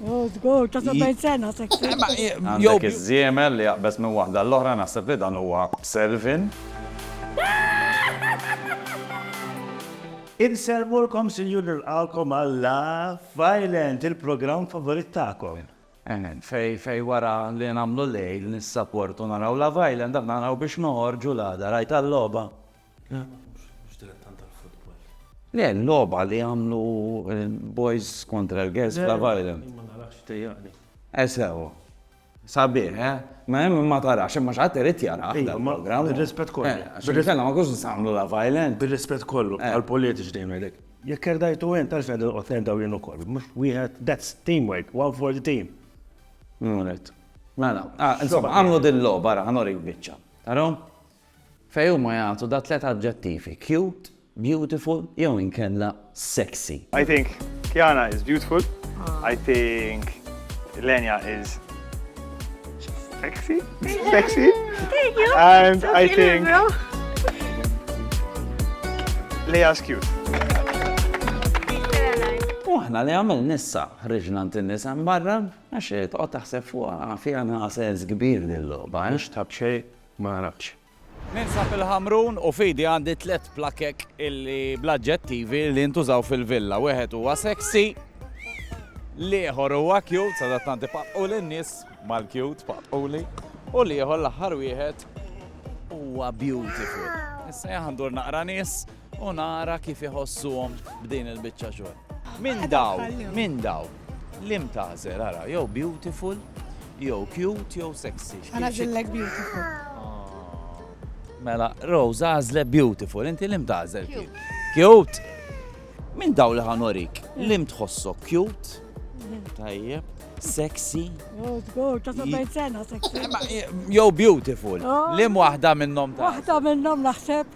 Oh, żgur, ta' 70 sena se tkun. Għandek iż-żiemel li jaqbeż minn waħda għall-oħra, naħseb li dan huwa Selvin. Insellmulkom sinjur nilqgħukom għal Love Island, il-programm favorit tagħkom. Fejn wara li nagħmlu lejl nissaportu naraw Love Island, aħna naraw biex noħorġu l-għada, rajtha l-logħba? Le, l-logħba li għamlu l-boys kontra l-girls f'Love Island. Ma narax, tejjaqni. Eh sew. Sabiħ, eh? Ma hemm min ma tarax, imma xi ħadd irid jarah dan il-programm. Bir-rispett kollu. Eh, għax inkella ma nkunux nistgħu nagħmlu Love Island. Bir-rispett kollu għall-politiċi dejjem ngħidlek. Jekk kerdajtu int għaliex qegħdin noqgħod nerdaw jien ukoll. Mhux wieħed, that's teamwork, one for the team. Min hu ngħid. Mela, ah, insomma, għamlu din l-logħba, ara, ħanuri l-biċċa. Taraw? Fejn huma jagħtu da tliet aġġettivi, cute, beautiful jew inkella sexy. I think Kiana is beautiful, I think Lenya is sexy, sexy and I think Leia is cute. U aħna li għamil nissa ħriġna ntin nisa barra, għax tqgħod taħseb fuqha fiha nagħsel kbir dil-logħba, għax tabxej Ma nafx. Ninsab il-Ħamrun u f'idi għandi tliet plakek illi bl-aġġettivi li ntużaw fil-villa. Wieħed huwa sexy, l-ieħor huwa cute, sadattant ipaqqu lin-nies mal-cute paqquli, u l-ieħor l-aħħar wieħed huwa beautiful. Issa jaħandur naqra nies u nara kif iħossuhom b'din il-biċċa xogħol. Minn daw, minn daw, lim tażel ara, jew beautiful, jew cute, jew sexy. Għana zillek beautiful. Ah. Mela, Rose għazle beautiful, inti lim tażel. Cute. Minn daw li ħanorik, mm. lim tħossok cute, mm-hmm. tajjeb, sexy. Oh, sexy. Jow beautiful. Oh. Lim wahda minnom ta' Wahda minnom naħseb.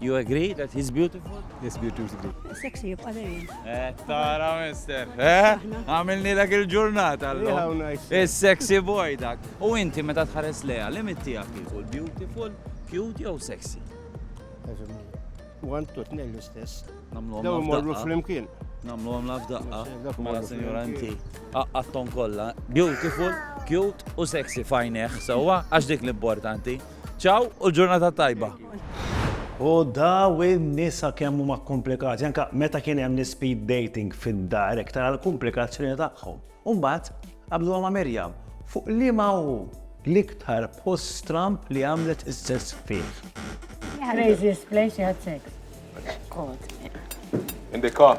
You agree that he's beautiful? Yes, beautiful. Sexy jibqa' dejjem. Eh, tara mister. Eh? Għamilni dak il-ġurnata llum. Is-sexy boy dak. U inti meta tħares leha, limit tiegħek jieħu beautiful, cute jew sexy? One to tnejn l-istess. Namlu Daw morru flimkien. Namlu għam laf daqqa. Mela senjura inti. Aqqatton kollha. Beautiful, cute u sexy fajneħ. Sewwa għax dik l-importanti. Ciao u l-ġurnata tajba. U daw in-nisa kemm huma kkumplikati, anke meta kien hemm l-speed dating fid-dar hekk tara l-kumplikazzjoni tagħhom. U mbagħad qablu ma' Mirjam fuq li ma hu l-iktar post stramp li għamlet is-sess fih. Craziest place you had sex. God. In the car.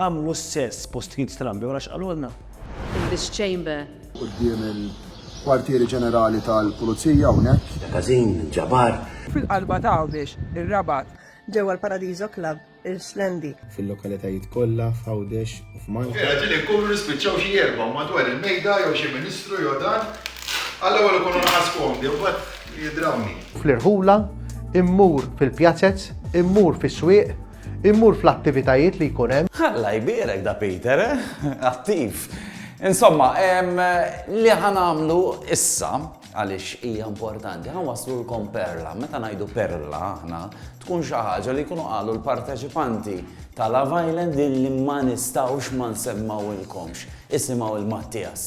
Għamlu s-sess post Keith Strambi wara x'qalulna. In this chamber. Quddiem il-Kwartieri Ġenerali tal-Pulizija hawnhekk. Magazin minn Jabar. Fil-qalba ta' Għawdex, ir-Rabat. Ġewwa l-Paradiso Club, Irslendi. Fil-lokalitajiet kollha f'Għawdex u f'Malta. Vera ġieli nkunu nispiċċaw xi erbgħa madwar il-mejda jew xi ministru jew dan, għall-ewwel ikunu nqas komdi mbagħad jidrawni. Fl-irħula, immur fil-pjazez, immur fis-swieq. Immur fl-attivitajiet li jkun hemm. Alla jbierek da Peter, eh? Attiv. Insomma, li ħanamlu issa, għaliex hija importanti, ħanwaslulkom perla. Meta ngħidu perla aħna, tkun xi ħaġa li jkunu qalu l-parteċipanti ta' Love Island li ma nistgħux ma nsemmawilkomx. Isimgħu il-Mattias.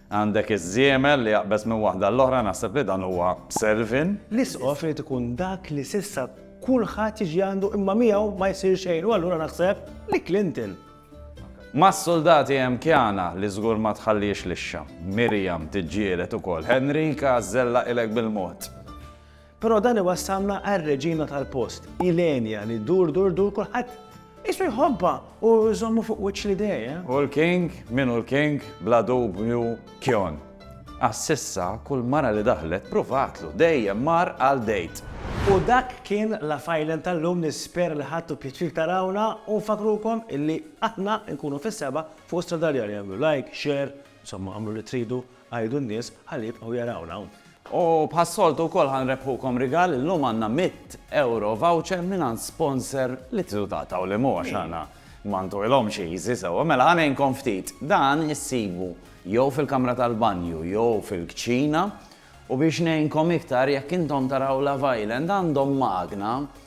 Għandek iż-żiemel li jaqbeż minn waħda għall-oħra, naħseb li dan huwa b'servin. L-Isqof irid ikun dak li s'issa kulħadd jiġi għandu imma miegħu ma jsir xejn u allura naħseb li Clinton. Mas-suldati hemm Kiana li żgur ma tħalliex lixxa. Miriam tiġġieled ukoll. Henrika żellaqilek bil-mod. Però dan iwassalna għar-reġina tal-post, Ilenia, li ddur dur dur kulħadd qisu jħobbha u jżommu fuq wiċċ l-idea. U l-king, min hu l-king, bla dubju Kjon. Għax s'issa kull mara li daħlet pruvatlu, dejjem mar għal date. U dak kien l-Afajlen tal-lum, nispera li ħadtu pjaċir tarawna u nfakkrukom illi aħna nkunu fis-sebgħa fuq Stradaljar, għamlu like, share, insomma għamlu li tridu. Għidu n-nies ħalli jibqgħu jarawna hawn. U bħas-soltu wkoll ħa nrebbħukom rigal, illum għandna mitt ewro voucher mingħand sponsor li tridu taqtgħu li mhu għax aħna ma ntuilhomx easy sewwa. Mela ħa ngħinkom ftit, dan issibu jew fil-kamra tal-banju jew fil-kċina u biex ngħinkom iktar jekk intom taraw Love Island għandhom magna